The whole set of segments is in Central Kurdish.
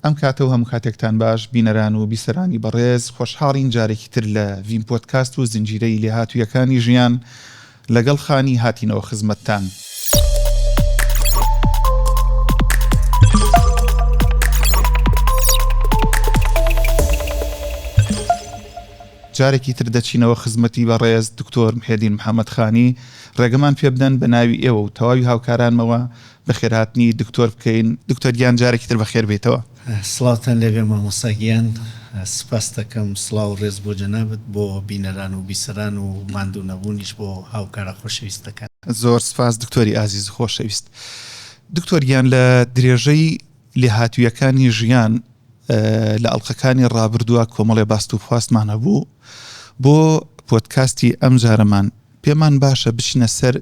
ئەم کاتە و هەموو کاتێکتان باش بینەران و بیسەرانی بەڕێز، خۆشحاڵین جارێکی تر لە ڤیم پۆدکاست و زنجیرەی لێهاتوویەکانی ژیان لەگەڵ خانی هاتینەوە خزمەتتان. جارێکی تر دەچینەوە خزمەتی بەڕێز دکتۆر محێدین محەمەد خانی، ڕێگەمان پێبدەن بە ناوی ئێوە و تەواوی هاوکارانمەوە بەخێرهاتنی دکتۆر بکەین دکتۆر گیان جارێکی تر بەخێر بێیتەوە. سڵاوتان لێبێ مامۆستا گیان سوپاست دەکەم سڵاو و ڕێز بۆ جەنابت بۆ بینەران و بیسەران و ماندوو نەبوونیش بۆ هاوکارە خۆشەویستەکان. زۆر سوپاس دکتۆری ئازیز و خۆشەویست. دکتۆر گیان لە درێژەی لێهاتوویەکانی ژیان لە ئەڵقەکانی ڕابردووە کۆمەڵێ باست و خواستمان هەبوو بۆ پۆدکاستی ئەمجارەمان پێمان باشە بچینە سەر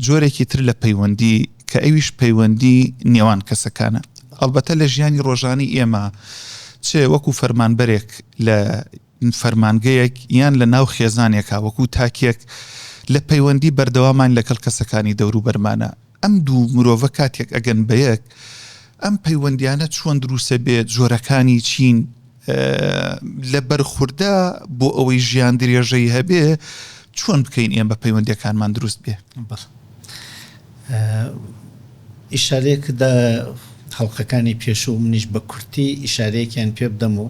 جۆرێکی تر لە پەیوەندی کە ئەویش پەیوەندی نێوان کەسەکانە. ئەڵبەتە لە ژیانی ڕۆژانی ئێمە چ وەکو فەرمانبەرێک لە فەرمانگەیەک یان لە ناو خێزانێکا وەکو تاکێک لە پەیوەندی بەردەوامان لەگەڵ کەسەکانی دەوروبەرمانە، ئەم دوو مرۆڤە کاتێک ئەگەن بە یەک ئەم پەیوەندیانە چۆن دروسە بێت جۆرەکانی چین لە بەرخوردە بۆ ئەوەی ژیان درێژەی هەبێ چۆن بکەین ئێمە پەیوەندەکانمان دروست بێ ئیشارێک دا خەڵقەکانی پێشوو منیش بە کورتی ئیشارەیەکیان پێ بدەم و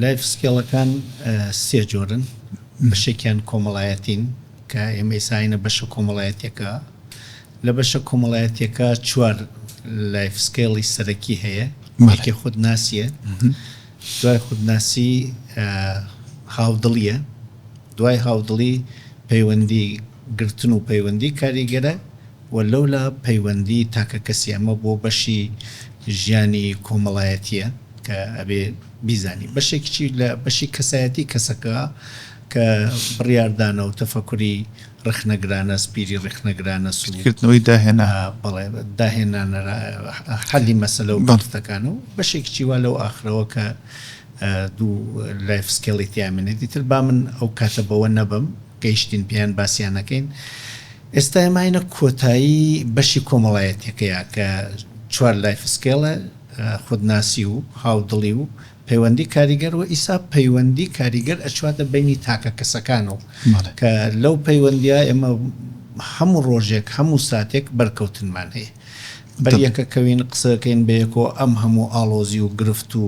لایف سکێڵەکان سێ جۆرن بەشێکیان کۆمەڵایەتین کە ئێمەی ساینە بەشە کۆمەڵایەتیەکە، لە بەشە کۆمەڵایەتیەکە چوار لایف سکێڵی سەرەکی هەیە، یەکێ خودناسیە، دوای خودناسی هاودڵیە، دوای هاودڵی پەیوەندی گرتن و پەیوەندی کاریگەرە و لەولا پەیوەندی تاکەکەسی، ئەمە بۆ بەشی ژیانی کۆمەڵایەتیە کە ئەبێ بیزانی، بەشێکیی لە بەشی کەسایەتی کەسەکە، کە بڕیاردانە و تەفەکوری ڕخنەگرانە، سپیری ڕخنەگرانە، سوود، کردنەوەی داهێنا. بەڵێ، داهێنانە، حەلی مەسەلە و گرفتەکانە و بەشێکیی وا لەو ئاخرەوە کە دوو لایف سکێڵی تیا مێنێ. دیتر با من ئەو کاتە بەوە نەبەم، گەیشتین پێیان باسیان نەکەین. ئێستا ئێمە هاینە کۆتایی بەشی کۆمەڵایەتییەکەیا کە چوار لایف سکێڵە، خودناسی و هاودڵی و. پەیوەندی کاریگەر و ئیستا پەیوەندی کاریگەر ئەچواتە بەینی تاکە کەسەکان و کە لەو پەیوەندیە ئێمە هەموو ڕۆژێک هەموو ساتێک بەرکەوتنمان هەیە بەر یەکەکەوین قسەکەین بەیەکۆ ئەم هەموو ئاڵۆزی و گرفت و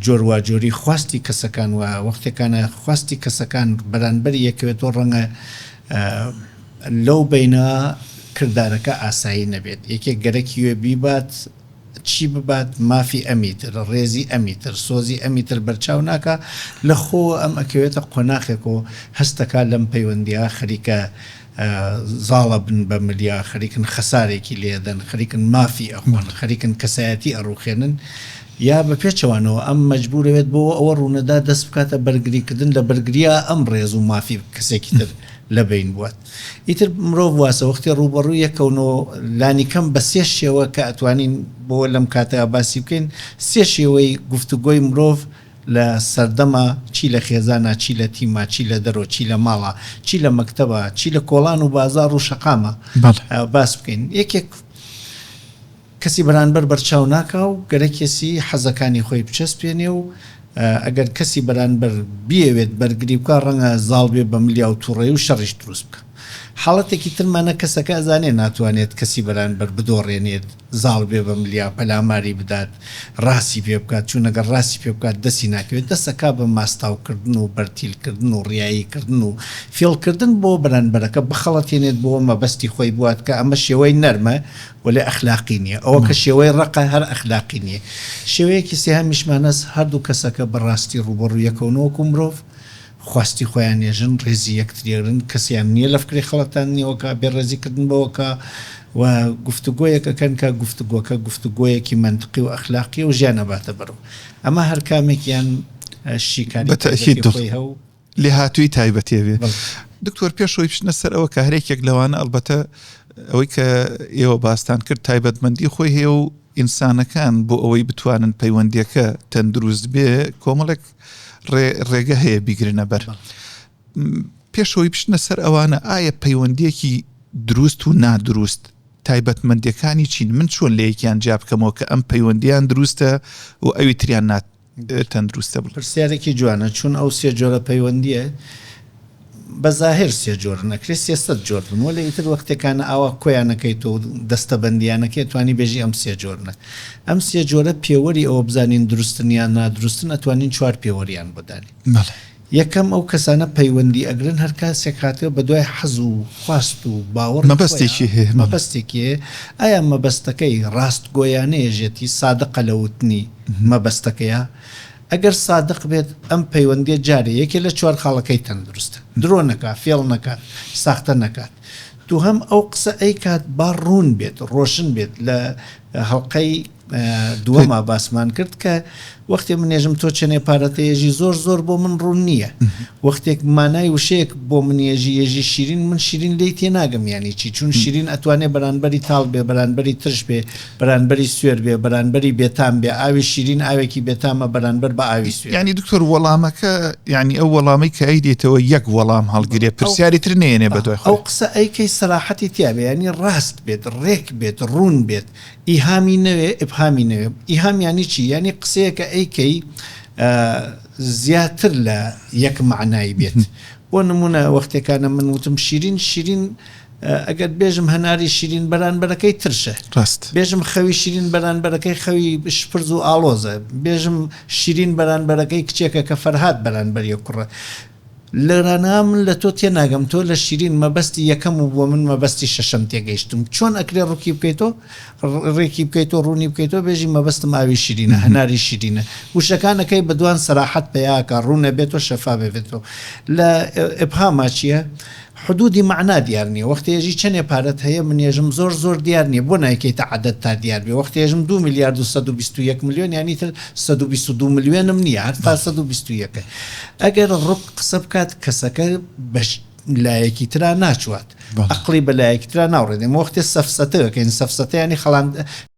جۆر واجۆری خواستی کەسەکان و وەختێکانە خواستی کەسەکان بەرانبەری یەکەوێتۆ ڕەنگە لەو بەینە کردارەکە ئاسایی نەبێت یەکێک گەرەکی وێ بیبات چی ببات مافی ئەمیتر، ڕێزی ئەمیتر، سۆزی ئەمیتر بەرچاو ناکا، لە خۆوە ئەم ئەکەوێتە قۆناخێک و هەست دەکا لەم پەیوەندییە خەریکە زاڵە بن بە ملیا، خەریکن خەسارێکی لێ ئەدەن، خەریکن مافی ئەخۆن، خەریکن کەسایەتی ئەڕووخێنن یا بە پێچەوانەوە ئەم مەجبوورە بێت بۆ ئەوە ڕوونەدا دەست بکاتە بەرگریکردن لە بەرگرییە ئەم ڕێز و مافی کەسێکی تر لە بەین بوات. ئیتر مرۆڤ واسە وەختی ڕووبەڕووی یەکەون و لانیکەم بە سێ شێوە کە ئەتوانین بۆ لەم کاتە باسی بکەین سێ شێوەی گفتوگۆی مرۆڤ لە سەردەمە چی لە خێزانە چی لە تیمە چی لە دەرۆ چی لە ماڵە چی لە مەکتەبە چی لە کۆڵان و بازاڕ و شەقامە باس بکەین یەکێک کەسی بەرانبەر بەرچاو ناکا و گەرەکێسی حەزەکانی خۆی بچەسپێنێ و ئەگەر کەسی بەرانبەر بیەوێت بەرگری بکا ڕەنگە زاڵ بێ بە ملیا و توڕەی و شەڕیش دروست بکا. حاڵەتێکی تر مەنە کەسەکە ئەزانێ ناتوانێت کەسی بەرانبەر بدۆڕێنێت زاڵ بێ بە ملیا پەلاماری بدات ڕاستی پێ بکات چوون ئەگەر ڕاستی پێ بکات دەستی ناکەوێت دەست ئەکا بە ماستاو کردن و بەرتیل کردن و ڕیایی کردن و فیڵ کردن بۆ بەرانبەرەکە بخەڵەتێنێت بۆ مەبەستی خۆی بوات کە ئەمە شێوەی نەرمە وەلێ ئەخلاقی نیە ئەوە کە شێوەی ڕەقە هەر ئەخلاقی نیە شێوەیەکی سێهەمیشمانەس هەردوو کەسەکە بە ڕاستی ڕووبەڕوو یەکەون وەکوو مرۆڤ خواستی خۆیان نێژن ڕێزی یەکتریەگرن کەسیان نیە لە فکری خەڵەتاندنیەوە کا بێ ڕێزی کردن بەوە کا و گفتوگۆیەک ئەکەن کا گفتوگۆکە گفتوگۆیەکی مەنتقی و ئەخلاقیە و ژیان ئەباتە بەرو ئەمە هەر کامێکیان شیکاری تایبەتی خۆی هەو لێهاتووی تایبەتێ بێ دکتۆر پێشەوەی بچنە سەر ئەوە کە هەرێکێک لەوانە ئەلبەتە ئەوەی کە ئێوە باستان کرد تایبەتمەندی خۆی هەیە و ئینسانەکان بۆ ئەوەی بتوانن پەیوەندیەکە تەندروست بێ کۆمەڵێک ڕێگە هەیە بیگرنە بەر پێشەوەی بچنە سەر ئەوانە ئایا پەیوەندیەکی دروست و نادروست تایبەتمەندەکانی چین من چۆن لەیەکیان جیاب بکەمەوە کە ئەم پەیوەندیان دروستە و ئەوی تریان نات تەندروستە بڵێ. پرسیارێکی جوانە چون ئەو سێ جۆرە پەیوەندیە بە زاهر سێ جۆرن ئەکرێ سێ سەد جۆر بن وەلێ ئیتر وەختێ کانە ئاوا کۆیان ئەکەیتۆ و دەستە بەندیان ئەکەی ئەتوانی بێژی ئەم سێ جۆرنە ئەم سێ جۆرە پێوەری ئەوە بزانین دروستن یان نادروستن ئەتوانین چوار پێوەریان بۆ دانێین. یەکەم، ئەو کەسانە پەیوەندی ئەگرن هەر کاسێک هاتگە بەدوای حەز و خواست و باوەڕی خۆیا، مەبەستێکی هەیە، مەبەستێکێ، ئایا مەبەستەکەی ڕاستگۆیانەیەژێتی، صادقە لە وتنی مەبەستەکەیا؟ ئەگەر صادق بێت ئەم پەیوەندیە جارێ یەکێ لە چوار خاڵەکەی تەندروستە، درۆ نەکا، فێڵ نەکات، ساختە نەکات. دووهەم، ئەو قسە ئەیکات با ڕوون بێت، ڕۆشن بێت، لە هەڵقەی. دووەما باسمان کرد کە وەختێ منێژم تۆ چەنێ پارەتە یێژی زۆر زۆر بۆ من ڕوون نییە وەختێک مانای وشەیەک بۆ من یێژی یێژی شیرین من شیرین لی تێ ناگەم یانی چی چون شیرین ئەتوانێ بەرانبەری تاڵ بێ بەرانبەری ترش بێ بەرانبەری سوێر بێ بەرانبەری بێتام بێ ئاوی شیرین ئاوێکی بێتامە بەرانبەر بە ئاوی سوێر ینی دکتۆر وەڵامەکە ینی ئەو وەڵامی کە ئەی دێتەوە یەک وەڵام هەڵگرێ پرسیاری تر نێنێ بە دوای ئەو قسە ئەیکەی سەراحەتی تیاێ ینی ڕاست بێت ڕێک بێت ڕوون بێت ئیهامی نەوێ ابهامی نەوێ ئیهام یانی چی یانی قسەیەکە ئەیکەی زیاتر لە یەک مەعنای بێت بۆ نمونە وەختێکانە من وتم شیرین شیرین ئەگەر بێژم هەناری شیرین بەرانبەرەکەی ترشە ڕاست بێژم خەوی شیرین بەرانبەرەکەی خەوی شپرز و ئاڵۆزە بێژم شیرین بەرانبەرەکەی کچێکە کە فەرهاد بەرانبەری کوڕە لرانا من لە تۆ تێناگەم تۆ لە شیرین مەبەستی یەکەم و بۆ من مەبەستی شەشەم تێگەیشتم چۆن ئەکرێ ڕکی بکەیتۆ ڕێکی بکەیتۆ ڕوونی بکەیتۆ بێژی مەبەستم ئاوی شیرینە هەناری شیرینە وشەکانەکەی بەدوان سەراحەت پەیاکە ڕوونە بێتۆ شەفا بێتۆ لە ئبهاما چییە حدودی مەعنا دیار نیە وەختی ئێژی چەنێ پارەت هەیە من ئێژم زۆر زۆر دیار نیە بۆ نایکەیتە عەدەد تا دیار بێ وەختی ئێژم دوو ملیارد و سەد و بیست و یەک ملیۆن یانی تر سەد و بیست و دوو ملیۆنم نیە هەتا سەد و بیست و یەکە ئەگەر ڕک قسە بکات کەسەکە بەش لایەکی ترا ناچوات ئەقڵی بە لایەکی ترا ناوڕێت ئێمە وەختێ سەفسەتە دەکەین سەفسەتە یانی خەڵاند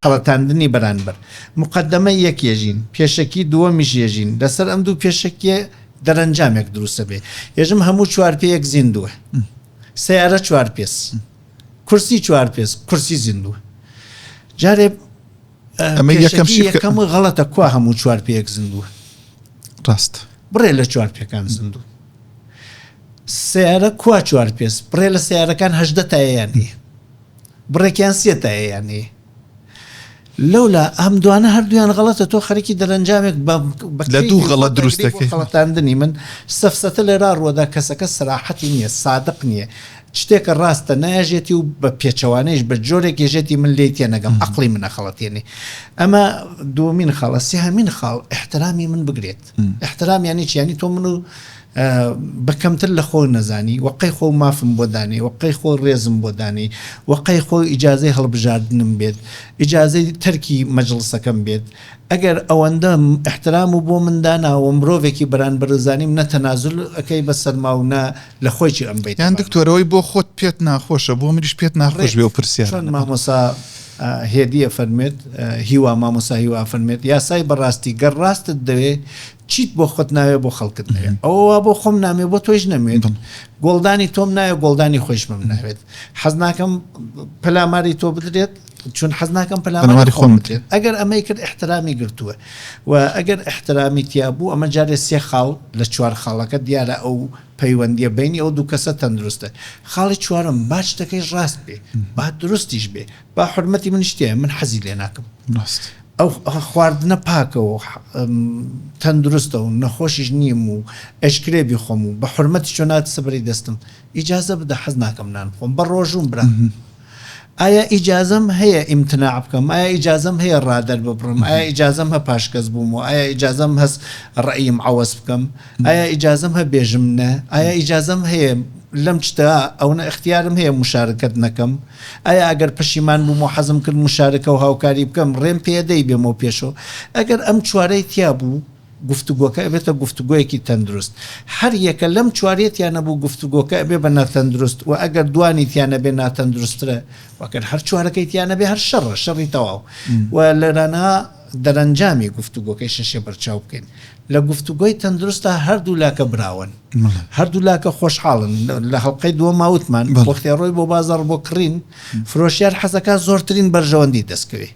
خەڵەتاندنی بەرانبەر مقەدەمە یەک یەژین پێشەکی دووەمیش یەژین لەسەر ئەم دوو پێشەکیە دەرەنجامێک دروست دەبێ یەژم هەموو چوار پێیەک زیندووە سیارە چوار پێس کورسی چوار پێس کورسی زیندووە جارێ ئەمە یەکەم یەکەم و غەڵەتە کوا هەموو چوار پێک زیندووە ڕاست بڕێ لە چوار پێکان زیندوو سیارە کوا چوار پێس بڕێ لە سیارەکان هەدە تایەیان بڕێکیان سێ تایەیان لەولا ئەم دوانە هەردوویان غەڵەتە تۆ خەریکی دەرەنجامێک بە لە دوو غەڵەت دروست دەکەی غەڵەتاندنی من سەفسەتە لێرا ڕووەدا کەسەکە سەراحەتی نییە سادق نییە شتێکە ڕاستە نایەژێتی و بە پێچەوانەیش بە جۆرێک یەژێتی من لێی تێنەگەم عقلی منە خەڵەتێنی ئەمە دومین خاڵە سێهمین خاڵ احترامی من بگرێت احترام یانی چی یانی تۆ منو بە کەمتر لە خۆ نەزانی وەقەی خۆ مافم بۆ دانێ وەقەی خۆ ڕێزم بۆ دانێ وەقەی خۆ ئیجاازەی هەڵبژاردنم بێت ئیجاازەی تەرکی مەجلسەکەم بێت ئەگەر ئەوەندە احترام و بۆ منداناوە مرۆڤێکی بەران بەرزانیم نە تەنازل ئەەکەی بە سەرما و نە لە خۆی ئەم بیت یان دکتۆرەوەی بۆ خۆت پێت ناخۆشە بۆ منیش پێت ناخۆش بێ و پرسیار مامۆسا هێدی ئەفەرموێت، هیوا، مامۆستا هیوا ئەفەرموێت، یاسای بەڕاستی، گەر ڕاستت دەوێ، چیت بۆ خۆت ناوێ بۆ خەڵکت نەوێ، ئەوە وا بۆ خۆم نامێ بۆ تۆیش نەموێت، گۆڵدانی تۆم ناوێ گۆڵدانی خۆیشمم ناوێت، حەز ناکەم پەلاماری تۆ بدرێت، چون حەز ناکەم پەلاماری خۆم بدرێت. ئەگەر ئەمەی کرد ئیحترامی گرتووە و ئەگەر ئیحترامی تیا بوو، ئەمە جارێ سێ خاڵ لە چوار خاڵەکە دیارە ئەو پەیوەندیە بەینی ئەو دوو کەسە تەندروستە خاڵی چوارەم با شتەکەی ڕاست بێ با دروستیش بێ با حورمەتی منیش تیایە من حەزی لێ ناکەم ڕاست ئەو خواردنە پاکە و تەندروستە و نەخۆشیش نیم و ئەشکرێ بیخۆم و بە حورمەتی چۆنات سبری دەستم ئیجازە بدە حەز ناکەم نان بخۆم بە ڕۆژووم برا. ئایا ئیجازەم هەیە ئیمتناع بکەم؟ ئایا ئیجازەم هەیە ڕا دەرببڕم؟ ئایا ئیجازەم هە پاشکەس بوومەوە؟ ئایا ئیجازەم هەس ڕەئیم عەوەز بکەم؟ ئایا ئیجازەم هە بێژم نە؟ ئایا ئیجازەم هەیە لەم شتە ئەونە ئختیارم هەیە مشارکەت نەکەم؟ ئایا ئەگەر پەشیمان بووم و حەزم کرد مشارکە و هاوکاری بکەم ڕێم پێیە دەیبێمەوە پێشەوە؟ ئەگەر ئەم چوارەی تیا بوو، گفتوگۆکە ئەبێتە گفتوگۆیەکی تەندروست هەر یەکە لەم چوار یەتیان نەبوو گفتوگۆکە ئەبێ بە ناتەندروست وە ئەگەر دوانی تیا نەبێ ناتەندروسترە وەگەر هەر چوارەکەی تیا نەبێ هەر شەڕە شەڕی تەواو و لەرانە دەرەنجامی گفتوگۆکەی شەشێ بەرچاو بکەین لە گفتوگۆی تەندروستە هەردوو لاکە براون هەردوو لاکە خۆشحاڵن لە هەڵلقەی دووە ماوتمان بۆختێڕۆی بۆ بازەڕ بۆ کڕین فرۆشیار حەزەکە زۆرترین بەرژەوەندی دەستکەوێت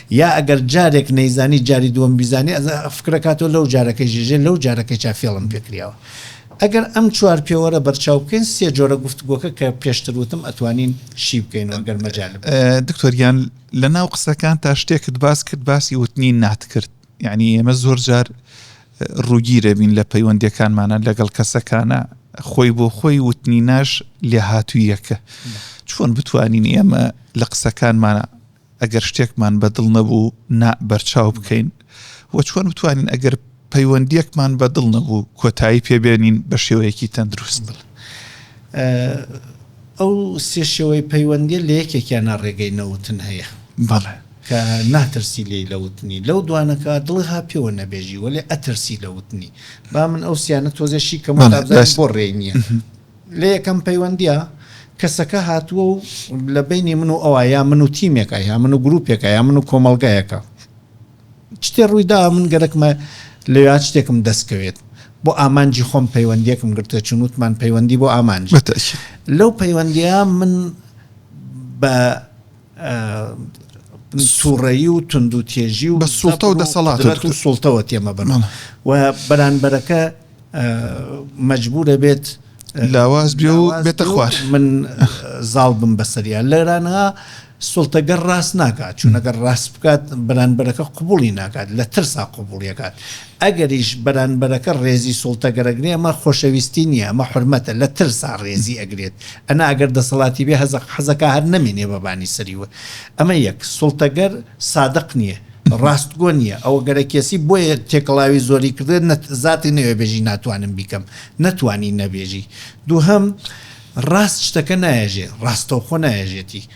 یا ئەگەر جارێک نەیزانی جاری دووەم بیزانی ئەزا فکرەکاتەوە لەو جارەکەی ژێژێ لەو جارەکەی چا فێڵم پێکریاوە ئەگەر ئەم چوار پێوەرە بەرچاو بکەین سێ جۆرە گفتگۆکە کە پێشتر وتم ئەتوانین شی بکەین ئەگەر مەجال دکتۆریان لە ناو قسەکان تا شتێکت باس کرد باسی وتنی نات کرد یعنی ئێمە زۆر جار ڕووگیرە بین لە پەیوەندەکانمانە لەگەڵ کەسەکانە خۆی بۆ خۆی وتنی ناش لێهاتوویەکە چۆن بتوانین ئێمە لە قسەکانمانە ئەگەر شتێکمان بە دڵ نەبوو نا بەرچاو بکەین و چۆن بتوانین ئەگەر پەیوەندیەکمان بە دڵ نەبوو کۆتایی پێبێنین بە شێوەیەکی تەندروست بڵێ ئەو سێ شێوەی پەیوەندی لە یەکێکیان نا ڕێگەی نەوتن هەیە بەڵێ کە ناترسی لێی لە وتنی لەو دوانەکە دڵی ها پێوە نەبێژی وەلێ ئەترسی لە وتنی با من ئەو سیانە تۆزێ شی کەم بۆ ڕێ نییە. لە یەکەم پەیوەندییە کەسەکە هاتووە و لە بەینی من و ئەوا یا من و تیمێکە یا من و گروپێکە یا من و کۆمەڵگایەکە شتێ ڕووی دا من گەرەکمە لەوێ شتێکم دەست کەوێت بۆ ئامانجی خۆم پەیوەندیەکم گرتە چون وتمان پەیوەندی بۆ ئامانج لەو پەیوەندیە من بە توڕەیی و توندوتێژی و بە سوڵتە و دەسەڵات و سوڵتەوە تێمە بن و بەرانبەرەکە مەجبورە بێت لاواز بێ و بێتە خوار من زاڵ بم بەسەریا لێرانها سڵتەگەر ڕاست ناکات چونەگەر ڕاست بکات بەرانبەرەکە قوبولی ناکات لە ترسا قوبولیەکات ئەگەریش بەرانبەرەکە ڕێزی سوڵتەگەرەگرێ ئەمە خۆشەویستی نیە ئەمە حورمەتە لە ترسا ڕێزی ئەگرێت ئەنا ئەگەر دەسەڵاتی بێ هەزەق حەزەکا هەر نەمێنێ بە بانی سەری وە ئەمە یەک سوڵتەگەر سادق نیە ڕاستگۆ نیە ئەوە گەرە کێسی بۆیە تێکەڵاوی زۆری کردێت نەت زاتی نەوێ بێژی ناتوانم بیکەم نەتوانی نەبێژی دووهەم ڕاست شتەکە نایەژێ ڕاستەوخۆ نایەژێتی.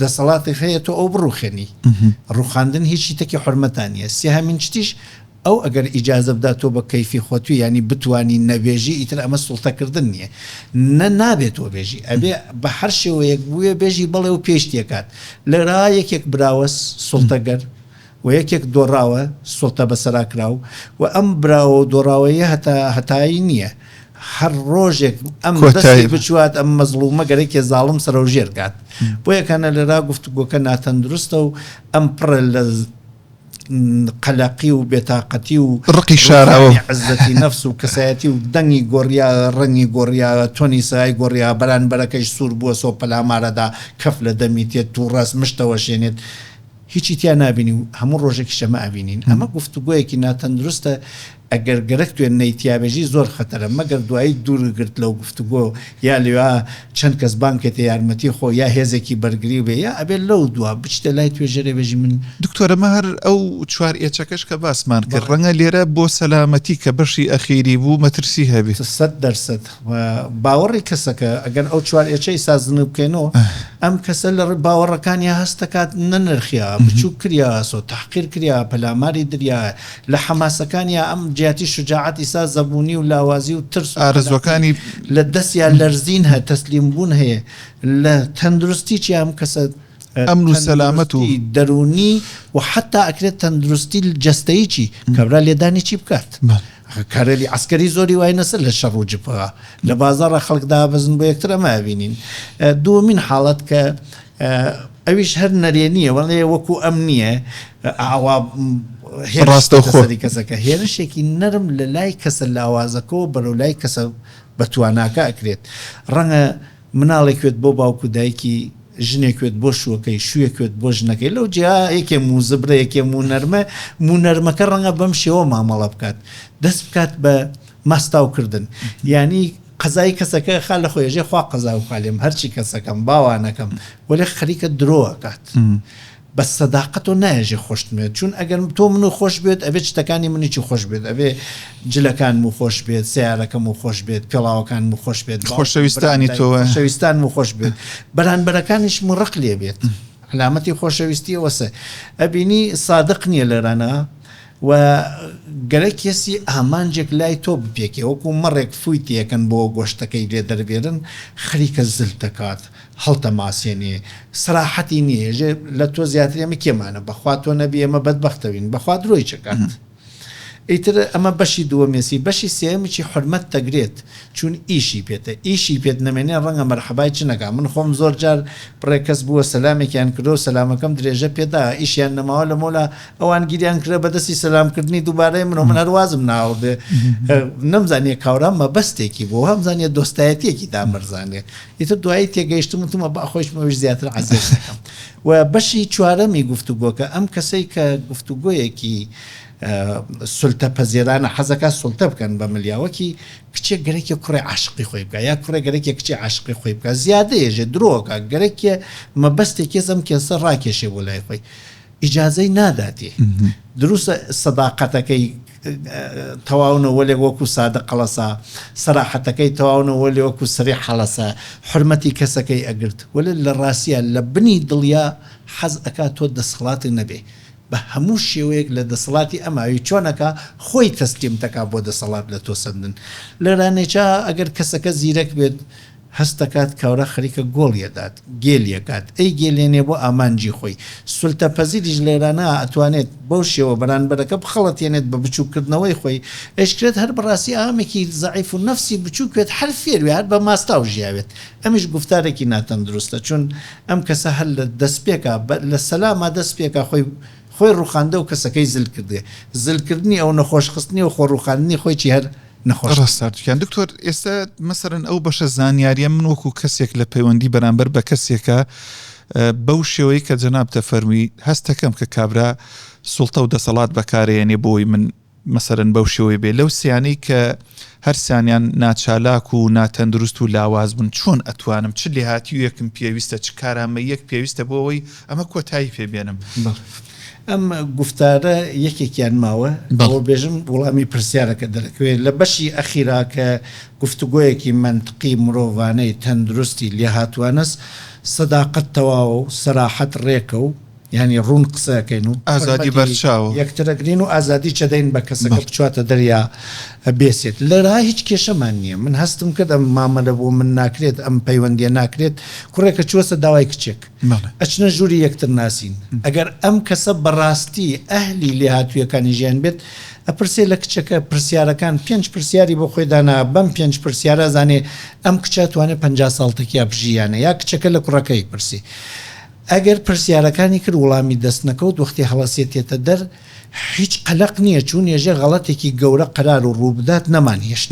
دەسەڵاتێک هەیە تۆ ئەو بڕوخێنی ڕوخاندن هیچی تەکی حورمەتا نیە سێهەمین شتیش ئەو ئەگەر ئیجازە بدا تۆ بە کەیفی خۆتوی یانی بتوانی نەبێژی ئیتر ئەمە سوڵتەکردن نیە نە نابێت تۆ بێژی ئەبێ بە هەر شێوەیەک بوێ بێژی بەڵێ و پێشتیەکات لەرا یەکێک براوە سوڵتەگەر و یەکێک دۆڕاوە سوڵتە بەسەرا کراو و ئەم براوە و دۆڕاوەیە هەتا هەتایی نیە هەر ڕۆژێک ئەم دەستی کۆتایی بە. بچوات ئەم مەزڵومە گەرەکێ زاڵم سەرەو ژێر کات بۆیە کەنە لێرا گفتوگۆکە ناتەندروستە و ئەم پڕە لە قەلەقی و بێتاقەتی و ڕقی شاراوە و. ڕوخانی عزەتی نەفس و کەسایەتی و دەنگی گۆڕیاە ڕەنگی گۆڕیاە تۆنی سەای گۆڕیا بەرانبەرەکەش سوور بووە سۆ پەلامارەدا کەف لە دەمی تێ تووڕەس مشتەوەشێنێت هیچی تیا نابینی و هەموو ڕۆژێکی شەمە ئەبینین ئەمە گفتوگۆیەکی ناتەندروستە ئەگەر گەرەک توێنەی تیابێژی زۆر خەتەرە مەگەر دوایی دوورگرت لەو گفتوگۆ یا لێوا چەند کەس بانکێتە یارمەتی خۆ یا هێزێکی بەرگری و بێ یا ئەبێت لەو دوا بچیتە لای توێژەرێ بێژی من دکتۆر ئەمە هەر ئەو چوار ئێچەکەش کە باسمان کرد ڕەنگە لێرە بۆ سەلامەتی کە بەشی ئەخیری بوو مەترسی هەبێ. سەد دەرسەد. و باوەڕی کەسەکە، ئەگەر ئەو چوار ئێچەی سازنگ بکەین و ئەم کەسە لە ڕووی باوەڕەکانیا هەست دەکات نەنرخیا، بچووک کریاسۆ، تەحقیر کریا، پەلاماری دریا، لە حەماسەکانیا ئەم جیاتی شوجاعەت ئیسا زەبوونی و لاوازی و ترس و ئارەزووەکانی لە دەستیا لەرزین هە، تەسلیم بوون هەیە، لە تەندروستیچیا ئەم کەسە، ئەمن و سەلامەت و. تەندروستی دەروونی و حەتتا ئەکرێت تەندروستی جەستەیی کە برا لێدانی چی بکات؟ کارێلی عەسکەری زۆری وای نەسە لە شەڕ و جبهە لە بازاڕا خەڵک دابەزن بۆ یەکتر ئەمە ئەبینین. دووەمین حاڵەت کە ئەویش هەر نەرێنییە وەڵێ وەکوو ئەم نییە ئاوا هێرش بکا سەری کەسەکە. هێرشێکی نەرم لە لای کەسە لاوازەکەوە بەرەو لای کەسە بەتواناکە ئەکرێت. ڕەنگە. مناڵێکوێت بۆ باوک و دایکی، ژنێکوێت بۆ شووەکەی، شوویەکوێت بۆ ژنەکەی، لەو جیا یەکێ مووزبرە یەکێ موو نەرمە، موو نەرمەکە ڕەنگە بەم شێوە مامەڵە بکات، دەست بکات بە ماستاو کردن، یانی قەزای کەسەکە ئەخا لە خۆی، ئەژێ خوا قەزاو کا لێم، هەرچی کەسەکەم، باوانەکەم، وەلێ خەریکە درۆ ئەکات. بەس سەداقەتۆ نایەژێ خۆشتموێت چوون ئەگەر تۆ منو خۆش بوێت ئەبێت شتەکانی منیچی خۆش بوێت ئەبێ جلەکانمو خۆش بێت سەیارەکەمو خۆش بێت پێڵاوەکانمو خۆش بێت خۆشەویستانی تۆ خۆشەویستانمو خۆش بێت بەرانبەرەکانیشمو ڕق لێ بێت علامەتی خۆشەویستی ئەوەسە ئەبینی سادق نیە لێرانە و گەرە کێسی ئامانجێک لای تۆ بپێکێ وەکو مەڕێک فووی تێکەن بۆ گۆشتەکەی لێ دەربێرن خەریکە زل دەکات هەڵتەماسێنێ سەراحەتی نیە ئێژێ لە تۆ زیاتر ئێمە کێمانە بەخوا تۆ نەبی ئێمە بەدبەختەوین بەخوا درۆیچ ئەکات ئیتر ئەمە بەشی دووەمێسی بەشی سێیەمیی حورمەت دەگرێت چوون ئیشی پێتە ئیشی پێت نەمێنێ ڕەنگە مەرحەبای چ نەکا من خۆم زۆر جار بڕێک کەس بووە سەلامێکیان کردووە سەلامەکەم درێژە پێ دا ئیشیان نەماوە لە مۆلا ئەوان گیریان کرا بە دەستی سەلام کردنی دووبارەی من و من هەر وازم ناوەدێ نەمزانیە کاورا مەبەستێکی بۆ هەمزانیە دۆستایەتیەکی دامەرزانێ ئیتر دوایی تێگەیشتم وتم وەبا خۆیشم ئەویش زیاتر عەزێت دەکەم و بەشی چوارەمی گفتوگۆکە ئەم کەسەی کە گفتوگۆیەکی سلتە پەزێرانە حەزەکە سلتە بکەن بە ملیاوەکی کچێک گەرەکی کوڕی عاشقی خۆی بکە یا کوڕێ گەرەکی کچی عاشقی خۆی بکە زیادەیەژێ درۆکە گەرەکێ مەبەستێک کێزم کێسە ڕاکێشێ بۆ لای خۆی ئیجازەی ناداتێ دروستە سەداقەتەکەی تەواونە وەلێ وەکو سادە قەڵەسا سەراحەتەکەی تەواونە وەلێ وەکو سری حەڵەسە حرمەتی کەسەکەی ئەگرت وەلێ لە ڕاستە لە بنی دڵیا حەز ئەکا تۆ دەسەڵات نەبێ بە هەموو شێوەیەک لە دەسەڵاتی ئەماوی چۆنەکا خۆی تەسلیمتەکا بۆ دەسەڵات لە تۆ سەندن لەرانێچا ئەگەر کەسەکە زیرەک بێت هەست دەکات کاورا خەریکە گۆڵی ئەدات، گێلی ئەکات، ئەیگێلێنێ بۆ ئامانجی خۆی. سولتە پەزیریش لێرانە ئەتوانێت بەو شێوە بەرانبەرەکە بخەڵەتێنێت بە بچووک کردنەوەی خۆی. ئەیشکرێت هەر بەڕاستی ئامێکی زەعیف و نەفسی بچووک وێت هەر فێر وێ هەر بە ماستاو ژیاوێت. ئەمیش گوفتارێکی ناتەندروستە چون ئەم کەسە هەر لە دەسپێکا بە لە سەلاما دەست پێکا خۆی خۆی ڕوخاندەو کەسەکەی زل کردێ. زل کردنی ئەو نەخۆش خستنی و خۆ ڕوخاندنی خۆی چی هەر. نەخۆش ڕاستارتکیان دکتۆر ئێستا مەسەرن ئەو بەشە زانیاریە من وەکو کەسێک لە پەیوەندی بەرامبەر بە کەسێکە بەو شێوەی کە جەناب تەفەرمی هەستەکەم کە کابرا سوڵتە و دەسەڵات بەکارێنێ بۆی من مەسەرن بەو شێوەی بێ لەو سیانەی کە هەرسانیان ناچالاک و ناتەندروست و لاواز بن چۆن ئەتوانم چ لێهاتیویەکم پێویستە چ کارامە یەک پێویستە بۆەوەی ئەمە کۆتایی پێ بێنم. بەڵێ ئەم گوفتارە یەکێکیان ماوە؟ بەڵێ. ئەوە بێژم وڵامی پرسیارەکە دەرەکەوێ لە بەشی ئەخیرا کە گفتوگۆیەکی مەنتقی مرۆڤانەی تەندروستی لێهاتووانەس سەداقەت تەواوە و سەراحەت ڕێکە و یانی ڕوون قسە ئەکەین و ئازادی بەرچاو. حورمەتی یەکتر ئەگرین و ئازادیش ئەدەین بە کەسەکە بەڵێ. بچواتە دەریا بێسێت لێرا هیچ کێشەمان نییە من هەستم کرد ئەم مامەلە بۆ من ناکرێت ئەم پەیوەندییە ناکرێت کوڕێکە چووەسە داوای کچێک ئەچنە ژووری یەکتر ناسین. ئەگەر ئەم کەسە بەڕاستی ئەهلی لێهاتوویەکانی ژیان بێت، ئەپرسێ لە کچەکە پرسیارەکان، پێنج پرسیاری بۆ خۆی دانا، بەم پێنج پرسیارە ئەزانێ ئەم کچە ئەتوانێ پەنجا ساڵ تەکیا بژی یا نە، یا کچەکە لە کوڕەکە ئەیپرسێ. ئەگەر پرسیارەکانی کرد وڵامی دەست نەکەوت، وەختی هەڵەسێ تێتە دەر، هیچ قەلەق نییە، چوون یەژێ غەڵەتێکی گەورە قەرار و ڕوو بدات نەمانهێشت.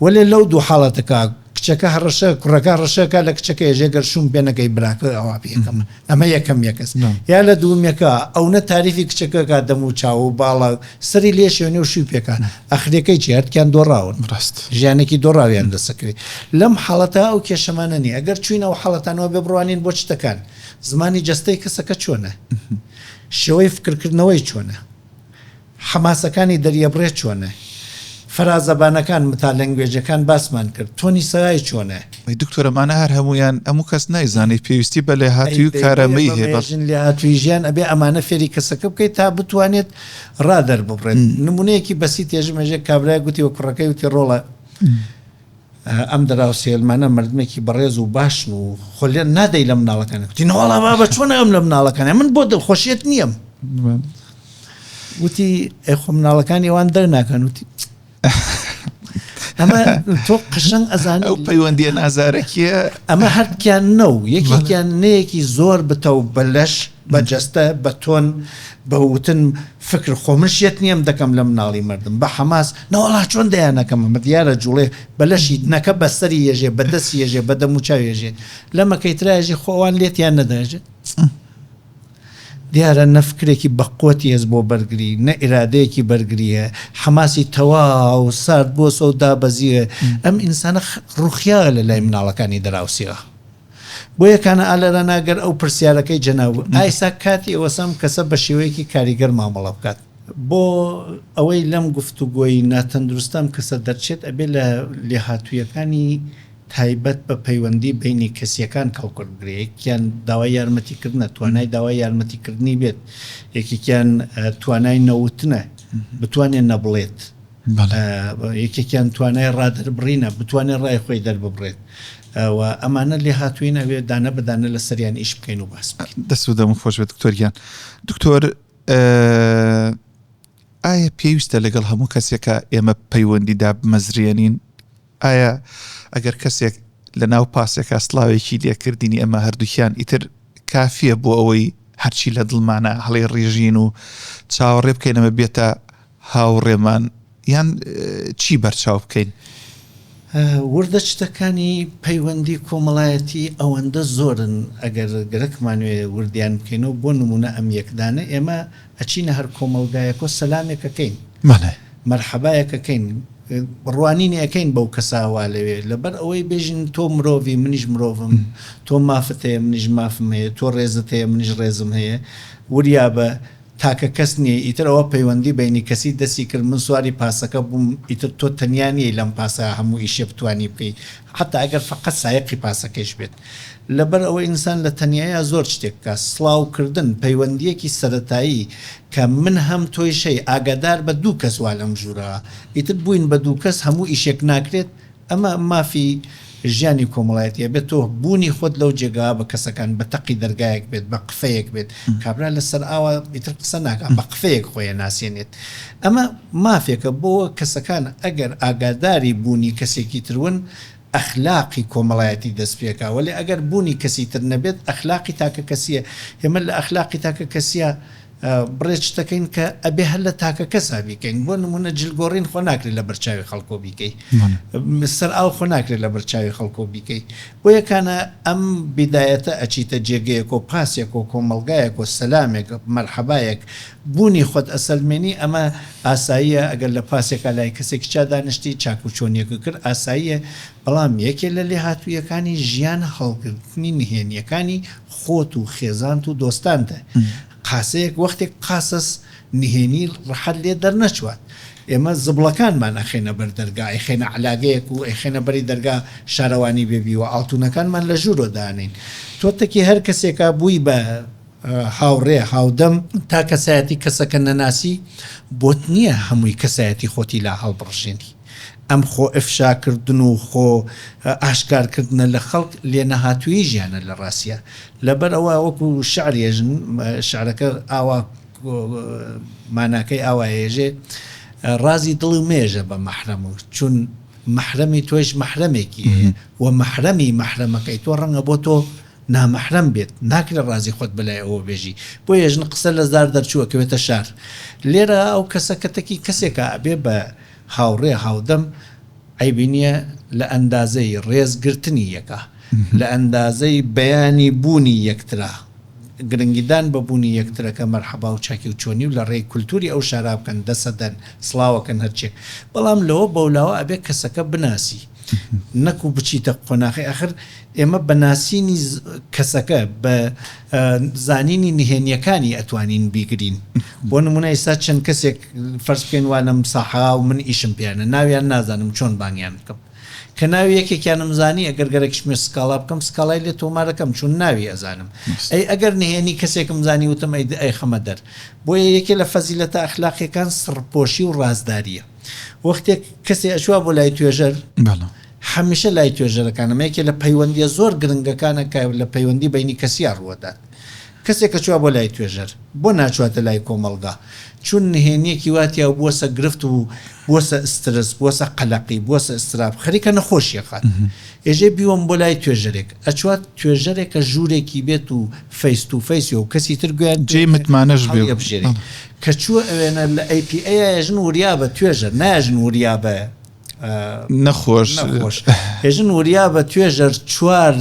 وەلێ لەو دوو حاڵەتە کە. کچەکە هەڕەشە کوڕەکە ڕەشەکە لە کچەکە ێژێ گەر شوم پێ نەکەی براکە ئەوا پێکەم ئەمە یەکەم یەکەس یا لە دوومەکە ئەو نە تاریفی کچەکەکە دەم و چاو و باڵا سەری لێ شوێنێ و شوی پێکە ئەخرەکەی چێتکیان دۆڕاون ڕاست ژیانێکی دۆڕاویان دەسەکەوێت لەم حاڵەتە ئەو کێشەمانە نیە ئەگەر چوینە و حاڵەتانەوە بێ بڕوانین بۆ شتەکان زمانی جستەی کەسەکە چۆنە شێوەی فکرکردنەوەی چۆنە حەماسەکانی دەریەبڕێ چۆنە؟ فەرازەبانەکان، متالەنگوێجەکان باسمان کرد. تۆنی سەرای چۆنە؟ ئەی دکتۆر ئەمانە هەر هەموویان ئەموو کەس نایزانێ پێویستی بە لێهاتووی و کارامەیی هەیە بەڵ. ژن لێهاتووی ژیان ئەبێ ئەمانە فێری کەسەکە بکەیت تا بتوانێت ڕا دەرببڕێت نموونەیەکی بەسیتێ ژمێژێک کابرایەک وتی بە کوڕەکەی وتی ڕۆڵە ئەم دراوسێلمانە مردمێکی بەڕێز و باشن و خولێن نادەی لە مناڵەکانیان گوتی نەوەڵا بابە چۆن ناوێم لە مناڵەکانیان من بۆ دڵخۆشیت نییەم وتی ئەی خۆ مناڵەکانی ئەوان دەر ناکەن وتی ئەمە تۆ قشنگ ئەزان ئەو پەیوەندیە نازارەکیە ئەمە هەرکیان نە و یەکێکیان نەیەکی زۆر بتە و بەلەش بە جەستە، بە تۆن، بە وتن فکر خۆ من شێت نیم دەکەم لە مناڵی مردم بە حەماس نەوەڵا چۆن دەیانەکەم ئەمە دیارە جوڵێ بە لەشی نەکە بە سەری یەژێ بە دەسی یەژێ بە دەموو چاوی یەژێ لە مەکەی تراژی خۆ ئەوان لێت یان نەداژێ دیارە نە فکرێکی بەقوەتی هەز بۆ بەرگری نە ئیرادەیەکی بەرگریە حەماسی تەواو سارد بۆ سەو دابەزیە ئەم ئینسانە ڕوخیا لە لای مناڵەکانی دراوسێەوە. بۆیە کانە ئالەرەنا گەر ئەو پرسیارەکەی جەناب ئایساک کاتی ئەوەسە ئەم کەسە بە شێوەیەکی کاریگەر مامەڵە بکات. بۆ ئەوەی لەم گفتوگۆی ناتەندروستە ئەم کەسە دەرچێت ئەبێ لە لێهاتوویەکانی تایبەت بە پەیوەندی بەینی کەسییەکان کەڵکورد بگرێ یەکێکیان داوای یارمەتیکردنە توانای داوای یارمەتیکردنی بێت یەکێکیان توانای نەوتنە بتوانێ نەبڵێت. یەکێکیان توانای ڕادەربڕینە، بتوانێت ڕای خۆی دەرببڕێت و ئەمانە لێهاتووین ئەبێت دانە بە دانە لەسەریان ئیش بکەین و بەحس بکەین. دەست و دەمت خۆش بێت دکتۆر گیان. دکتۆر ئایا پێویستە لەگەڵ هەموو کەسێکا ئێمە پەیوەندی دابمەزرێنین؟ ئایا ئەگەر کەسێک لە ناو پاسێکا سڵاوێکی لێ کردینی ئەمە هەردووکیان ئیتر کافیە بۆ ئەوەی هەرچی لە دڵمانە هەڵێ ڕیژین و چاوەڕێ بکەینەمە بێتە هاوڕێمان یان چی بەرچاو بکەین؟ وردە شتەکانی پەیوەندی کۆمەڵایەتی ئەوەندە زۆرن ئەگەر گەرەکمانوێ وردیان بکەینەوە بۆ نمونە ئەم یەکدانە ئێمە ئەچینە هەر کۆمەڵگایەکۆ سەلامێک ئەکەین مەرحەبایەک ئەکەین ڕوانینی ئەکەین بەو کەسە وا لەوێ لەبەر ئەوەی بێژین تۆ مرۆڤی منیش مرۆڤم تۆ مافت هەیە منیش مافم هەیە تۆ ڕێزت هەیە منیش ڕێزم هەیە وریابە تاکە کەس نییە ئیتر ئەوە پەیوەندی بەینی کەسی دەستی کرد من سواری پاسەکە بووم ئیتر تۆ تەنیا نییەی لەم پاسە هەموو ئیشێ بتوانی بکەی حەتا ئەگەر فەقەت سایەقی پاسەکەیش بێت. لەبەر ئەوەی ئینسان لە تەنیاییا زۆر شتێک بکا. سڵاو کردن پەیوەندییەکی سەرەتایی کە من هەم تۆیش هەی ئاگادار بە دوو کەس وا لەم ژوورە ئیتر بووین بە دوو کەس هەموو ئیشێک ناکرێت ئەمە مافی ژیانی کۆمەڵایەتییە بێت تۆ بوونی خۆت لەو جێگاوە بە کەسەکان بە تەقی دەرگایەک بێت بە قفەیەک بێت کابرا لە سەر ئاوا ئیتر قسە ناکا بە قفەیەک خۆی ئەناسێنێت ئەمە مافێکە بۆ کەسەکان ئەگەر ئاگاداری بوونی کەسێکی ترون ئەخلاقی کۆمەڵایەتی دەست پێکا وەلێ ئەگەر بوونی کەسی تر نەبێت ئەخلاقی تاکە کەسیە ئێمە لە ئەخلاقی تاکە کەسیا بڕێ شتەکەین کە ئەبێ هەر لە تاکە کەسا بیکەین بۆ نمونە جل گۆڕین خۆ ناکرێت لە بەرچاوی خەڵکۆ بیکەی سەر ئاو خۆ ناکرێت لە بەرچاوی خەڵکۆ بیکەی بۆیە کانە ئەم بیدایەتە ئەچیتە جێگەیەکۆ پاسێکۆ کۆمەڵگایەکۆ سەلامێک مەرحەبایەک بوونی خۆت ئەسەلمێنی ئەمە ئاساییە ئەگەر لە پاسێکا لای کەسێکی چا دانیشتی چاک و چۆنیەکە کرد ئاساییە بەڵام یەکێ لە لێهاتوویەکانی ژیان هەڵگرتنی نهێنیەکانی خۆت و خێزانت و دۆستانتە قاسەیەک وەختێک قاسەس نهێنی ڕەحەت لێ دەرنەچوات ئێمە زبڵەکانمان ئەخەینە بەر دەرگا ئەیخەینە عەلاگەیەک و ئەیخەینە بەری دەرگا شارەوانی بێ بیوە ئاڵتونەکانمان لە ژوورۆ دانێین تۆ تەکی هەر کەسێکا بووی بە هاوڕێ، هاودەم، تا کەسایەتی کەسەکە نەناسی بۆت نیە هەمووی کەسایەتی خۆتی لا هەڵبڕژێنی. ئەم خۆ ئفشاکردن و خۆ ئاشکار کردنە لە خەڵک لێ نەهاتوویی ژیانە لە ڕاستیا. لەبەر ئەوە وەکو شعر یەژن، شعرەکە ئاوا ماناکەی ئاوا یەژێ، ڕازی دڵی مەیەژە بە مەحرەم و چون مەحرەمی تۆیش مەحرەمێکی هەیە و مەحرەمی مەحرەمەکەی تۆ ڕەنگە بۆ تۆ نامەحرەم بێت ناکرێت ڕازی خۆت بەلای ئەوە بێژی بۆیە ژن قسە لە زار دەرچوو ئەکەوێتە شار لێرە ئەو کەسە کەتەکی کەسێکە ئەبێ بە هاوڕێ هاودەم عەیبی نیە لە ئەندازەی ڕێز گرتنی یەکا لە ئەندازەی بەیانی بوونی یەکترا گرنگی دان بە بوونی یەکترەکە مەرحەبا و چاکی و چۆنی و لە ڕێی کولتوری ئەو شارا بکەن دەسە دەن سڵاوەکەن هەرچێک بەڵام لەوە بەولاوە ئەبێ کەسەکە بناسی نەکوو بچیتە قۆناخی ئەخر ئێمە بە ناسینی کەسەکە، بە زانینی نهێنییەکانی ئەتوانین بیگرین. بۆ نموونە ئیستا چەند کەسێک فەرز بکەین وا لەم ساحە و من ئیشم پێیانە، ناویان نازانم چۆن بانگیان بکەم. کە ناوی یەکێکیانم زانی ئەگەر گەرەکیش بێ سکاڵا بکەم، سکاڵای لێ تۆمار ئەکەم چون ناوی ئەزانم. ئەی ئەگەر نهێنی کەسێکم زانی وتم ئەی ئەیخەمە دەر. بۆیە یەکێ لە فەزیلەتە ئەخلاقییەکان سڕپۆشی و ڕازدارییە. وەختێک کەسێ ئەچووە بۆ لای توێژەر. هەمیشە لای توێژەرەکان ئەمە یەکێ لە پەیوەندییە زۆر گرنگەکانە کە لە پەیوەندی بەینی کەسیا ڕووەدات. کەسێک کە چووە بۆ لای توێژەر، بۆ ناچووەتە لای کۆمەڵگا؟ چون نهێنییەکی وا تیایە و بووەسە گرفت و بووەسە ئسترس، بووەسە قەلەقی، بووەسە ئستراب، خەریکە نەخۆشییەخات. ئێژێ بیوەم بۆ لای توێژەرێک. ئەچووات توێژەرێک کە ژوورێکی بێت و فەیس تو فەیسی و کەسی تر گوێیان پێ بێت و هەڵیەبژێرێ. کە چووە ئەوێنە لە ئەی پی ئەیایە ژن وریابە توێژەر نایە ژن وریابە. نەخۆش نەخۆش هێژن وریا بە توێژەر چوار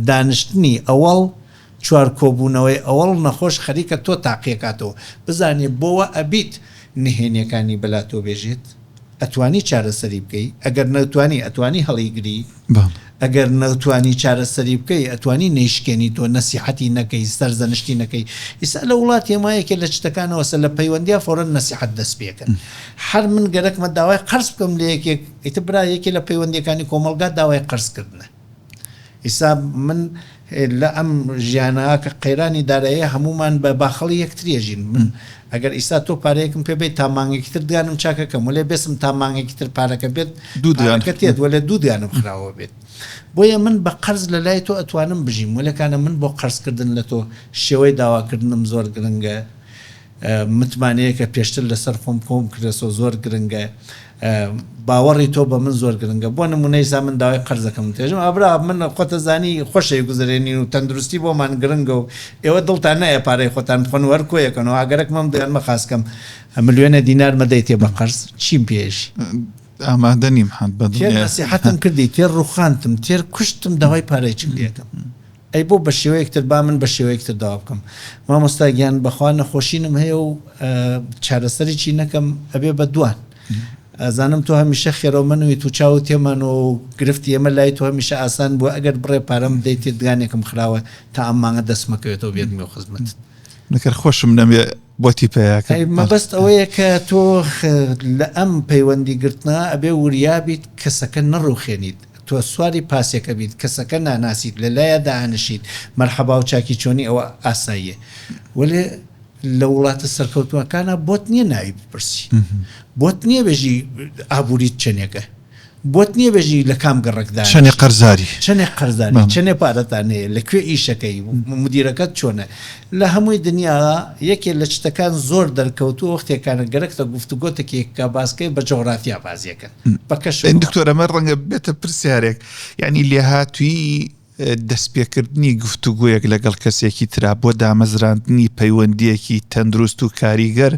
دانیشتنی ئەوەڵ چوار کۆبوونەوەی ئەوەڵ نەخۆش خەریکە تۆ تاقیەکاتەوە بزانێ بۆوە ئەبیت نهێنیەکانی بەلا تۆ بێژێت ئەتوانی چارەسەری بکەی ئەگەر نەتوانی ئەتوانی هەڵیگری ئەگەر نەتوانی چارەسەری بکەی ئەتوانی نەیشکێنی تۆ نەسیحەتی نەکەی سەرزەنشتی نەکەی ئیستا لە وڵاتی ئێمە یەکێ لە چتەکانەوەسە لە پەیوەندیا فورەن نەسیحەت دەست پێکەن هەر من گەرەکمە داوای قەرز بکەم لە یەکێک ئیتر برا یەکێ لە پەیوەندیەکانی کۆمەڵگا داوای قەرز کردنە ئیستا من لە ئەم ژیانە کە قەیرانی داراییە هەموومان بە باخەڵی یەکتری ئەژین من ئەگەر ئیستا تۆ پارەیەکم پێ بەیت تا مانگێکی تر دگانم چاکە کەم وەلێ بێسم تا مانگێکی تر پارەکە بێت دوو دگانەکە تێت وەلێ دوو دگانم خراوە بێت بۆیە من بە قەرز لە لای تۆ ئەتوانم بژیم وەلێ کانە من بۆ قەرزکردن لە تۆ شێوەی داواکردنم زۆر گرنگە متمانەیەکە پێشتر لەسەر خۆم کۆم کردەسەو زۆر گرنگە باوەڕی تۆ بە من زۆر گرنگە بۆ نمونە ئیسا من داوای قەرزەکەم دێژم ئابرا من خۆتە زانی خۆشەوی گوزەرێنین و تەندروستی بۆمان گرنگە و ئێوە دڵتان نایە پارەی خۆتان بخۆن و هەر کۆیەکەنەوە ئاگەرەک مەم دەیان مە خاسکەم ملیۆنە دینار مەدەیتێ بە قەرز چیم پێشی ئامادە نیم حەد بە تێر نەسیحەتم کردی تێر ڕوخاندتم تێر کوشتم داوای پارەی چیم لێکەم. ئەی بۆ بەشێوەیەک تر با من بەشێوەیەک تر داوا بکەم مامۆستا گیان بەخوا نەخۆشینم هەیە و چارەسەریی نەکەم ئەبێ بە دوان ئەزانم تۆ هەمیشە خێرەومەنوی تو چاو تێمانەوە و گرفتی ئێمە لای تۆ هەمیشە ئاسان بووە ئەگەر بڕێ پارەم بدەیتێ دگانێکم خراوە تا ئەم مانگە دەستمەکەوێتەوە بێت مێ خزمەت نەکەر خۆشم نەمێ بۆ تیپەیەکە مەبەست ئەوەیە کە تۆ لە ئەم پەیوەندی گرتنا ئەبێ وریابیت کەسەکە نەڕوخێنیت تۆ سواری پاسێکە بیت کەسەکە ناناسیت لەلایا دائەنشیت مەرحەباو چاکی چۆنی ئەوە ئاساییە وەلێ لە وڵاتە سەرکەوتوەکانە بۆت نیە ناوی بپرسی بۆت نیە بێژی ئابووریت چەنێکە بۆت نیە بێژی لە کام گەڕکدا چەنێ قەرزاری چەنێ قەرزاری چەنێ پارەتانەیە لە کوێ ئیشەکەی مدیرەکەت چۆنە لە هەموی دنیا یەکێ لە چتەکان زۆر دەرکەوتوە وەختێکانە گەرەکتە گفتوگۆتەکێک کا باسکەی بە جۆغرافیا بازیەکەن بە کەشف وڵات. دکتۆر ئەمە ڕەنگە ببێتە پرسیارێک یانی لێهاتوی دەستپێکردنی گفتوگۆیەک لەگەڵ کەسێکی ترا بۆ دامەزراندنی پەیوەندیەکی تەندروست و کاریگەر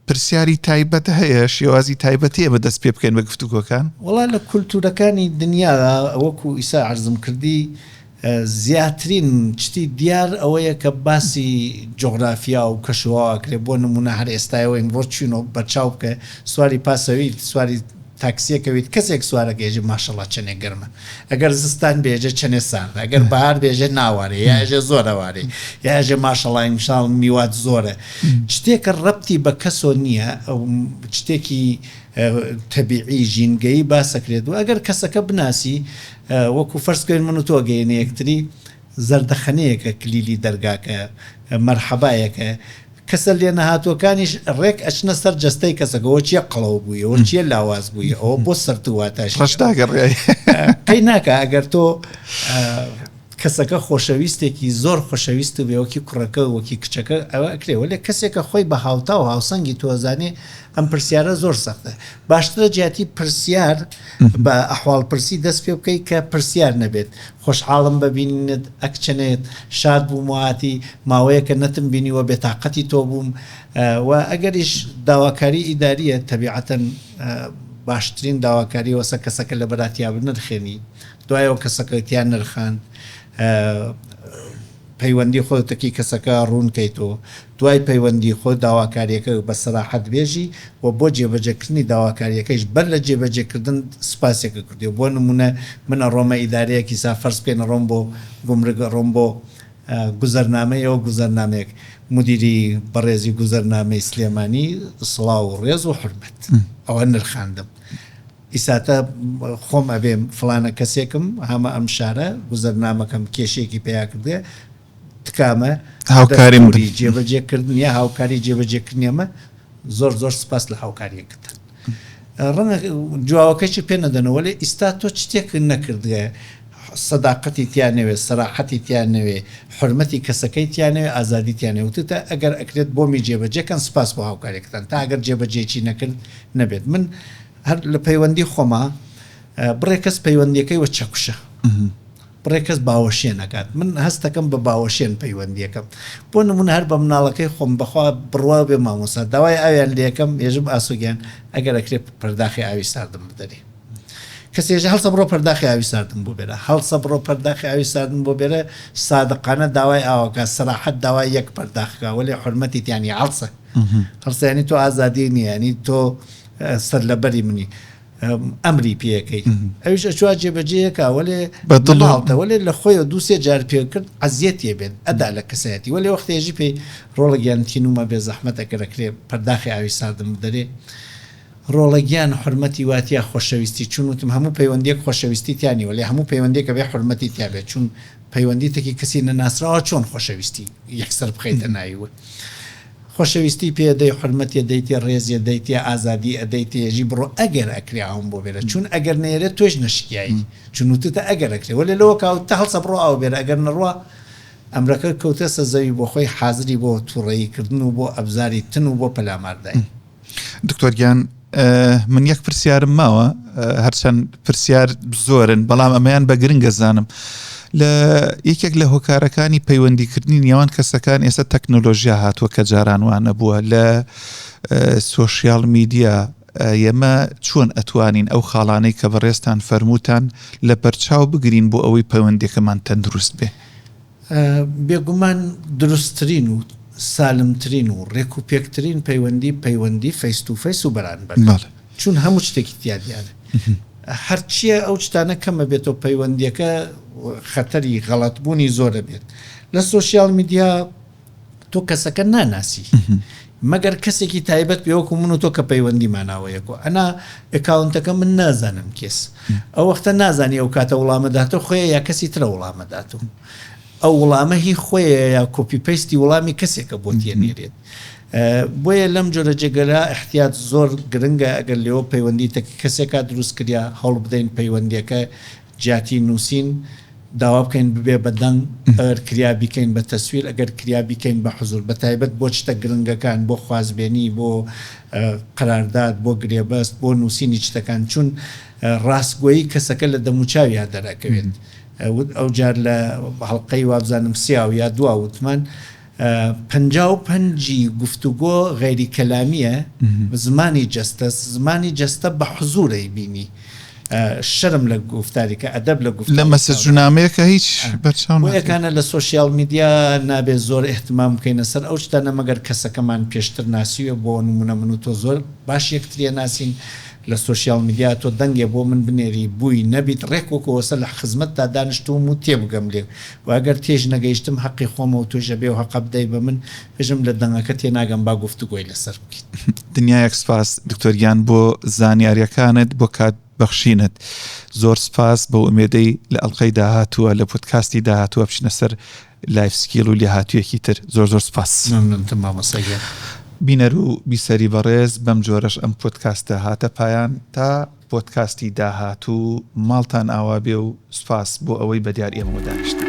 پرسیاری تایبەت هەیە شێوازی تایبەت هەیە بە دەست پێ بکەین بە گفتوگۆکان؟ وەڵا لە کولتورەکانی دنیادا وەکو ئیسە عەرزم کردی زیاترین شتی دیار ئەوەیە کە باسی جوغرافیا و کەشوهەوا ئەکرێ، بۆ نموونە هەر ئێستای ئەوەی ئمڕۆ چووین و بەرچاو بکە سواری پاسەویل سواری تاکسیەکە بیت کەسێک سوارەکەی ئەژێ ماشەڵا چەنێ گەرمە ئەگەر زستان بێ ئەژێ چەنێ ساردە ئەگەر بەهار بێ ئەژێ ناوارێ یا ئەژێ زۆر هەوارێ یا ئەژێ ماشەڵا ئیمساڵ میوات زۆرە شتێکە ڕەبتی بە کەسۆ نییە ئەو شتێکی تەبیعی ژینگەیی باسەکرێت و ئەگەر کەسەکە بناسی وەکو فەرز بکەین من و تۆ گەینە یەکتری زەردەخەنەیەکە کلیلی دەرگاکە مەرحەبایەکە کەسە لێنەهاتووەکانیش ڕێک ئەچنە سەر جەستەی کەسەکە ئەوە چیە قەڵەو بووی ئەوە چیە لاواز بووی ئەوە بۆ سەرت واتە ڕەش ناگەڕێ قەی ناکا ئەگەر تۆ کەسەکە خۆشەویستێکی زۆر خۆشەویست و بێوەکی کوڕەکە و وەکی کچەکە ئەوە ئەکرێ وەلێ کەسێکە خۆی بە هاوتا و هاوسەنگی تۆزانێ ئەم پرسیارە زۆر سەختە باشترە جیاتی پرسیار بە ئەحواڵ پرسی دەست پێ بکەی کە پرسیار نەبێت خۆشحاڵم بە بینینت ئەک چنێت شاد بووم وهاتی ماوەیەکە نەتم بینیوە بێتاقەتی تۆ بووم و ئەگەریش داواکاری ئیداریە تەبیعەتەن باشترین داواکاری وەسە کەسەکە لەبەراتیابنرخێنی دوایەوە کەسەکەی تیا نرخاند پەیوەندی خۆت تەکی کەسەکە ڕوون کەیت و دوای پەیوەندی خۆت داواکاریەکەی بە سەراحەت بێژی و بۆ جێبەجێکردنی داواکاریەکەیش بەر لە جێبەجێکردن سوپاسێکە کردی و بۆ نموونە من ئەڕۆمە ئیدارەیەک هیسا فەرز بکەین ئەڕۆم بۆ گومرگ ئەڕۆم بۆ گوزەرنامە ئێوە گوزەرنامەیەک مدیری بەڕێزی گوزەرنامەی سلێمانی سڵاو و ڕێز و حورمەت ئەوە نرخاندم. ئیساتە خۆم ئەبێم فڵانە کەسێکم هامە ئەم شارە گوزەرنامەکەم کێشەیەکی پەیا کردێ تکامە هاوکاریم بن. دەستووری جێبەجێ کردن یا هاوکاری جێبەجێ کردنی ئەمە زۆر زۆر سپاس لە هاوکاریەکەتان ڕەنگە جوواوەکەشی پێ نەدەنەوە لێ ئیستا تۆ چ تێک نەکردگە سەداقەتی تیا نەوێ، سەراحەتی تیا نەوێ، حورمەتی کەسەکەی تیا نەوێ، ئازادی تیا نەوێ. وتوتە ئەگەر ئەکرێت بۆمی جێبەجێ کەن، سپاس بۆ هاوکاریەکەتان. تا ئەگەر جێبەجێیەکی نەکرد نەبێت. من هەر لە پەیوەندی خۆما بڕێک کەس پەیوەندیەکەی وە چەکوشە. بڕێک کەس باوەشێن ئەکات. من هەستەکەم بە باوەشێن پەیوەندیەکەم. بۆ نمونە هەر بە مناڵەکەی خۆم بەخوا بڕوا بێ مامۆستا داوای ئاویان لێ ئەکەم ئێژم ئاسۆ گیان ئەگەر ئەکرێت پەرداخی ئاوی ساردم بدەرێ. کەسێژە هەڵسە بڕۆ پەرداخی ئاوی ساردم بۆ بێرە هەڵسە بڕۆ پەرداخی ئاوی ساردم بۆ بێرە سادقانە داوای ئاوەکە سەراحەت داوای یەک پەرداخکە وەلێ حورمەتیت یانی هەڵسە هەڵسە یانی تۆ ئازادی نییە یانی تۆ سەر لەبەری منی ئەمری پێەکەی ئەوش ئەچوا جێبەجێەکە وەێ بەدڵڵاڵتە وەێ لە خۆی و دووسێ جار پێکرد ئەزیەتە بێت ئەدا لە کەسایەتی وەێ وەختێژی پێی ڕۆڵە گیانتینومە بێ زەحمەتە کەەکرێ پەرداخی ئاوی ساردم دەرێ ڕۆڵە گیان حورمەتی واتیە خۆشەویستی چون وتم هەموو پەیوەندیەک خۆشەویستی تیا نیە وەلێ هەموو پەیوەندیەک ئەبێ حورمەتی تیا بێت چون پەیوەندی تەکی کەسی نەناسراوە چۆن خۆشەویستی یەکسەر بخەیتە ناوی وە خۆشەویستی پێ ئەدەی حورمەتی ئەدەیتێ ڕێزی ئەدەیتێ ئازادی ئەدەیتێ یەژی بڕۆ ئەگەر ئەکرێ ئاوم بۆ بێرە چون ئەگەر نێرێ تۆیش نەشکیایی چون وتتە ئەگەر ئەکرێ وەلێ لەوە کاوت تە هەڵسە بڕۆ ئاو بێرە ئەگەر نەڕوا ئەمرەکە کەوتە سە زەوی بۆ خۆی حازری بۆ توڕەیی کردن و بۆ ئەبزاری تن و بۆ پەلاماردای دکتۆر گیان من یەک پرسیارم ماوە هەرچەند پرسیار زۆرن بەڵام ئەمەیان بە گرنگە زانم لە یەکێک لە هۆکارەکانی پەیوەندیکردنی نێوان کەسەکان ئێستا تەکنۆلۆژیا هاتووە کە جاران وانە بووە لە سۆشیال میدیا ئێمە چۆن ئەتوانین ئەو خاڵانەی کە بەڕێستان فەرمووتان لە پەرچاو بگرین بۆ ئەوەی پەیوەندێکەمان تەندروست بێ بێگومان دروستترین و سالمترین و رێکوپێکترین پەیوەندی، پەیوەندی فەیس تو فەیس و بەرانبەرە، چون هەموو شتێکی تیا دیارە. هەرچییە ئەو شتانە کەم ئەبێتەوە، پەیوەندییەکە خەتەری غەڵەتبوونی زۆر ئەبێت. لە سۆشیال میدیا. تۆ کەسەکە ناناسی مەگەر کەسێکی تایبەت پێ وەکو من و تۆ کە پەیوەندی ماناوە یەکۆ ئەنا ئکاونتەکە من نازانم کێس ئەو وەختە نازانی ئەو کاتە وڵامەداتە خۆی یا کەسی ترە وڵامەدات و ئەو وڵامە هی خۆی یا کۆپی پەیستی وڵامی کەسێکە بۆ تێنێرێت بۆیە لەم جۆرە جێگەرا احتیات زۆر گرنگە ئەگەر لێەوە پەیوەندی تەکی کەسێکا دروست کریا هەڵ بدەین پەیوەندیەکە جیاتی نوسین داوا بکەین ببێ بە دەنگ ئەگەر کریا بیکەین بە تەسویر ئەگەر کریا بیکەین بە حزور بە تایبەت بۆ چتە گرنگەکان بۆ خوازبێنی بۆ قەرارداد بۆ گرێبەست بۆ نوسینی چتەکان چون راستگۆیی کەسەکە لە دەموچاویا دەرئەکەوێت وت ئەوجار لە هەڵقەی وابزانم سێاو یا دوا وتمان پەنجا و پەنج ی گفتوگۆ غەیری کەلامیە بە زمانی جەستە زمانی جەستە بە حزور ئەیبینی شەرم لە گوفتاریکە ئەدەب لە گوفتاری لە مەسەجونامەیەکە هیچ بەرچاو ناکەی بۆیەکانە لە سۆشیال میدیا نابێ زۆر ئیهتمام بکەینە سەر ئەو شتانە مەگەر کەسەکەمان پێشتر ناسیوێ بۆ نمونە من و تۆ زۆر باش یەکتری ئەناسین لە سۆشیال میدیا تۆ دەنگێ بۆ من بنێری بووی نەبیت ڕێک وەکۆ وەسە لە خزمەتتا دانشتووم و تێبگەم لێ وە گەر تێش نەگەیشتم هەقی خۆمە و تۆش ئەبێ ئەو هەقە بدەی بە من بژم لە دەنگەکە تێناگەم با گفتوگۆی لەسەر بکەین. دنیایەک سپاس دکتۆر گیان بۆ زانیاریەکانت بۆ کات بەخشینت زۆر سپاس بە ئومێدەی لە ئەڵقەی داهاتووە لە پۆدکاستی داهاتووە بچینە سەر لایف سکیل و لێهاتوویەکی تر زۆر زۆر سپاس. مەمنونتم مامۆستا گیان. بینەر و بیسەری بەڕێز بەم جۆرەش ئەم پۆدکاستە هاتە پایان تا. پۆدکاستی داهاتوو ماڵتان ئاوا بێ و سوپاس بۆ ئەوەی بە دیار ئێمەوە دانیشتن.